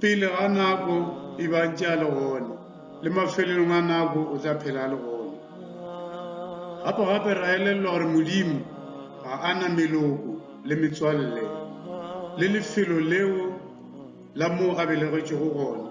Pele ga nako, ebang tše a le gona, le mafelelong a nako o tla phela a le gona. Gape-gape ra elellwa gore Modimo ga a na meloko le metswalle le lefelo leo la moo a belegetšwego gona.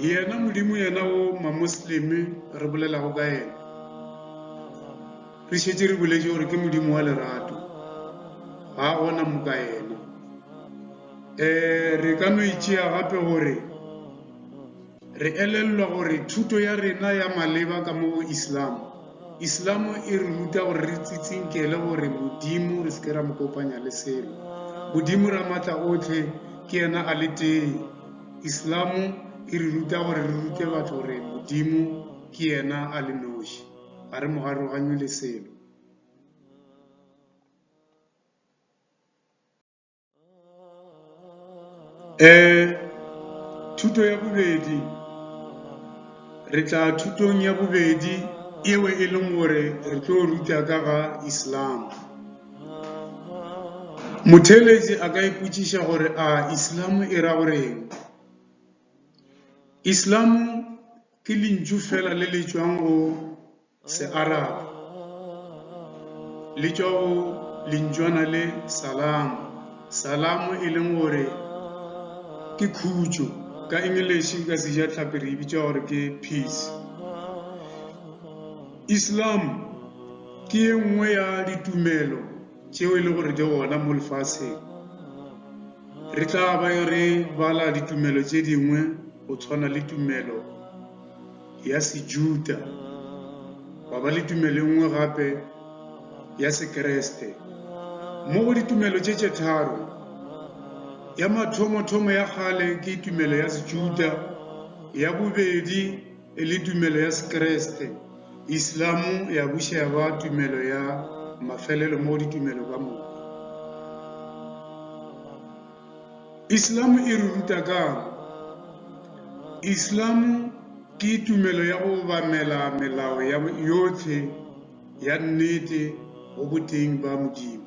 yena modimo yena o mamosleme re bolelago ka yena re šetse re boletše gore ke modimo wa lerato ga a gona moka yena um re ka no itšea gape gore re elelelwa gore thuto ya rena ya maleba ka mo go islam islam e re ruta gore re tsitsinkele gore modimo re se ke ra mo kopanya le selo modimo ra maatla otlhe ke yena a le tee Islamo e re ruta gore re rute batho gore Modimo ke yena a le noši, ga re mogaroganywe le selo. Eh, thuto ya bobedi. Re tla thutong ya bobedi yeo e leng gore re tlo ruta ka ga Islam. Motheeletši a ka ipotšiša gore, A Islam e ra go reng? Islam ke lentšu fela le le tšwang go Searab, le tšwa go lentšwana le salam, salam e leng gore ke khutšo, ka English ka Sejatlhapi re e bitša gore ke peace. Islam ke ye nngwe ya ditumelo tšeo e le gore di gona mo lefaseng. Re tla ba yo re bala ditumelo tše dingwe go tshwana le tumelo ya sejuta wa ba le tumelo e nngwe gape ya sekreste mo go ditumelo tše tše tharo ya mathomo-thomo ya kgale ke tumelo ya sejuta ya bobedi E le tumelo ya Sekreste, Islam ya buša ya ba tumelo ya mafelelo mo ditumelo ka moka. Islam e re ruta kang? Islam ke tumelo ya go obamela melao yotlhe ya nnete go boteng ba Modimo.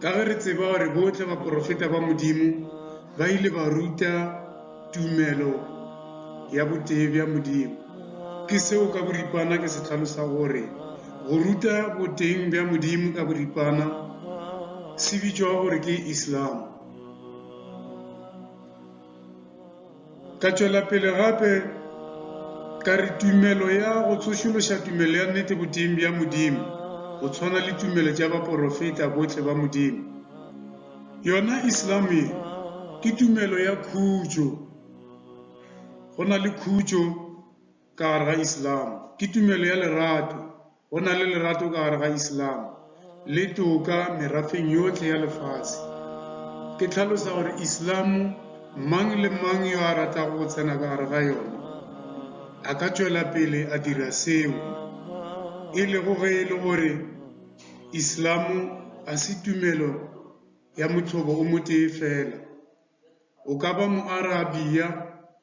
Ka ge re tseba gore bohle baporofeta ba Modimo ba ile ba ruta tumelo ya botee bja Modimo, ke seo ka boripana ke se hlalosa gore go ruta boteng bja Modimo ka boripana se bitšwa gore ke Islam. Ka tšwela pele gape ka re tumelo ya go tsošološa tumelo ya nnete boteng bja Modimo, go tshwana le tumelo tša baporofeta bohle ba Modimo. Yona Islam ye ke tumelo ya khutšo. Go na le khutšo ka gare ga Islam. Ke tumelo ya lerato. Go na le lerato ka gare ga Islam le toka merafeng yohle ya lefase. Ke tlhalosa gore Islam mang le mang yo a ratago go tsena ka gare ga yona a ka tšwela pele a dira seo, e lego ge e le gore Islam ga se tumelo ya mothobo o motee fela. O ka ba Moarabia,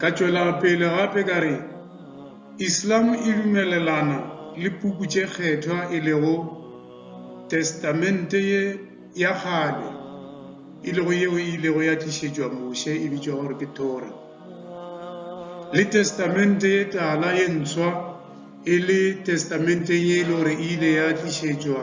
Ka tšwela pele gape ka re, Islam e dumelelana le puku tše kgethwa e lego Testamente ye ya kgale, e lego yeo e ilego ya tlišetšwa Moshe e bitšwa gore ke Thora, le Testamente ye tala ye ntswa e le Testamenteng ye e le gore e ile ya tlišetšwa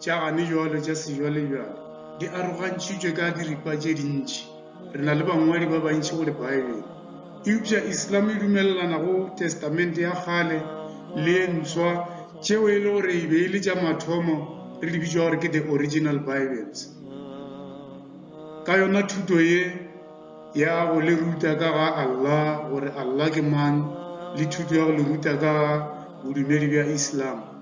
Tša gane jwale tša sejwalejwale di arogantšhitšwe ka diripa tše dintši. Re na le bangwadi ba bantši go Libaebele. Eupša Islam e dumelelana go Testamente ya Kgale le ye Ntswa, tšeo e le gore e be e le tša mathomo re di bitšwa gore ke the Original Bibles. Ka yona thuto ye ya go le ruta ka ga Allah, gore Allah ke mang, le thuto ya go le ruta ka ga bodumedi bja Islam.